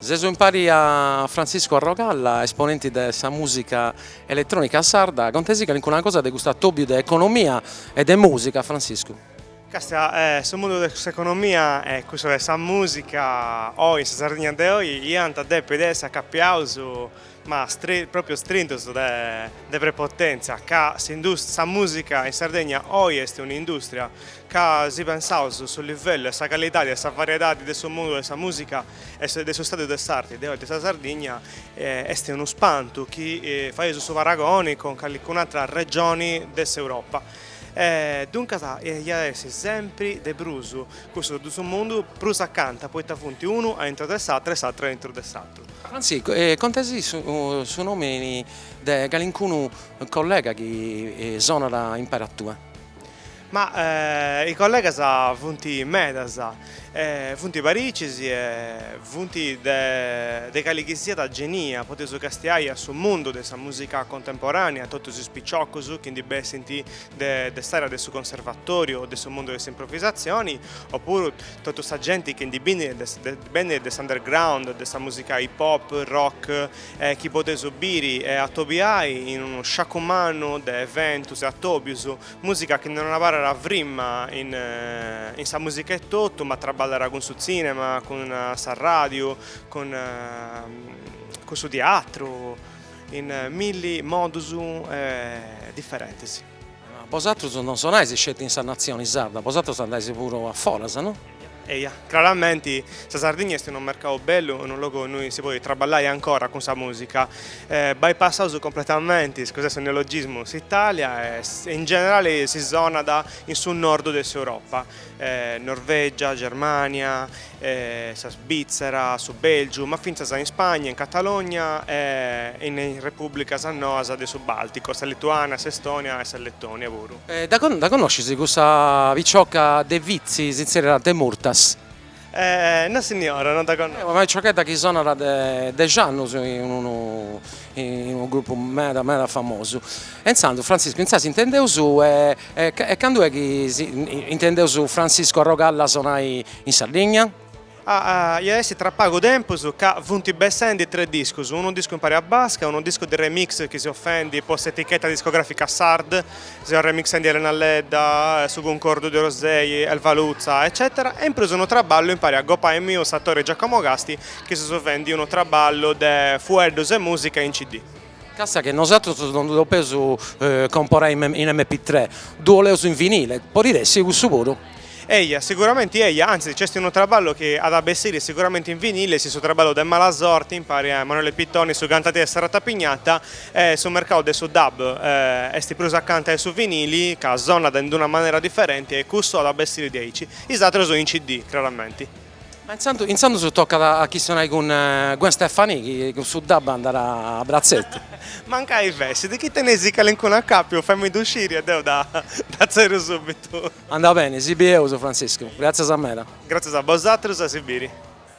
Seus impari a Franciscu Arrogalla, esponenti de sa mùsica eletrònica sarda, contesi calincuna cosa de custu atòbiu de economia e de mùsica, Franciscu. Càstia, su mundu de s'economia e cussa de sa mùsica oi in sa Sardigna de oi iant a depi de essi acapiaus ma pròpiu strintos de prepotèntzia, ca sa mùsica in Sardegna oi est un'indùstria, ca si pensaus su livellu e sa calidadi e sa variedadi de su mundu de sa mùsica e de su stadiu de s'arti de oi de sa Sardigna est unu spantu chi faius su paragoni cun calicun'atra regioni de s'Europa e duncas iat a essi sempri de prus cussus duus mundus prus acanta poita funt unu a intro de s'atru e s'atru a intro de s'atru. Si, contesi su nomini de calincunu collega chi sonat impari a tue? Ma is collegas funt medas, funt paricis e funt de cali chi siat genia, podeus castiai a su mundu de sa musica contemporanea a totus is piciocus chi ndi bessint de s'area de su conservatoriu o de su mundu de s'improvisazioni, o puru totu sa genti chi ndi benit de Benit de s'underground, de sa mùsica hip hop, rock, e chi podeus biri e atobiai in unu sciacu mannu de eventus e atòbius, mùsica chi non abarrat frimma in in sa mùsica etotu, ma traballat cun su tzìnema, cun sa ràdiu, cun cun su tiatru, in milli modus diferentis. Bosatrus non sonais sceti in sa natzioni sarda, bosatrus andais puru a foras, no? Eja, craramenti sa Sardigna est unu mercau bellu, unu logu innui si podit traballai ancora cun sa musica. Bypassaus completamenti iscusade su neologismu s'Italia e in generali si sonat in su nordu de s'Europa. Norvègia, Germània, sa Sbìtzera, su Bèlgiu, ma fintzas in Spagna, in Catalogna e in is repùblicas noas de su Bàlticu, sa Lituània, s'Estònia e sa Letònia puru. Dda connoscis cussa picioca de Vitzi, si tzèrriat Demurtas? E no signora, non dda connosco. Una piciochedda chi sonat de dexi annus in unu in unu grupu meda meda famosu. E intzandus Frantziscu intzà si intendeus e e candu est chi intendeus Frantziscu Arrogalla sonai in Sardigna? Ah ah iat a essi tra pagu tempus ca funt bessendi tres discus, unu discu impari a Baska, unu discu de remix chi seu fendi po s'etichetta discografica S'Ard Seus remixendi Elena Ledda, Su cuncordu de Orosei, Elva Lutza, eccètera, e in prus unu traballu impari a gopai miu s'atore Giacomo Casti chi seus fendi unu traballu de fueddus e mùsica in cd. Càstia chi nosatrus non ddu depeus comporai in MP tre, ddu 'oleus in vinile, podit essi cussu puru? Eja, siguramenti eja, antzis nc'est unu traballu chi at a bessiri siguramenti in vinile, est su traballu de Malasorti, impari a Emanuele Pittoni, su cantadei de sa Ratapignata, e su mercau de su dub est prus acanta 'e su vinili, ca sonat in d-una manera diferenti e custu at a bessiri diaici, is atrus in CD, craramenti. Ma intzandus tocat a chistionai cun Gwen Stefani chi cun su dub andat a bratzetu. Mancai fessit chi tenis calincunu acàpiu fai-mi-ddu sciri e deu dda tzèrriu subitu. Andat beni, si bieus Franciscu. Gràtzias meda. Gràtzias a bosatrus e a si biri.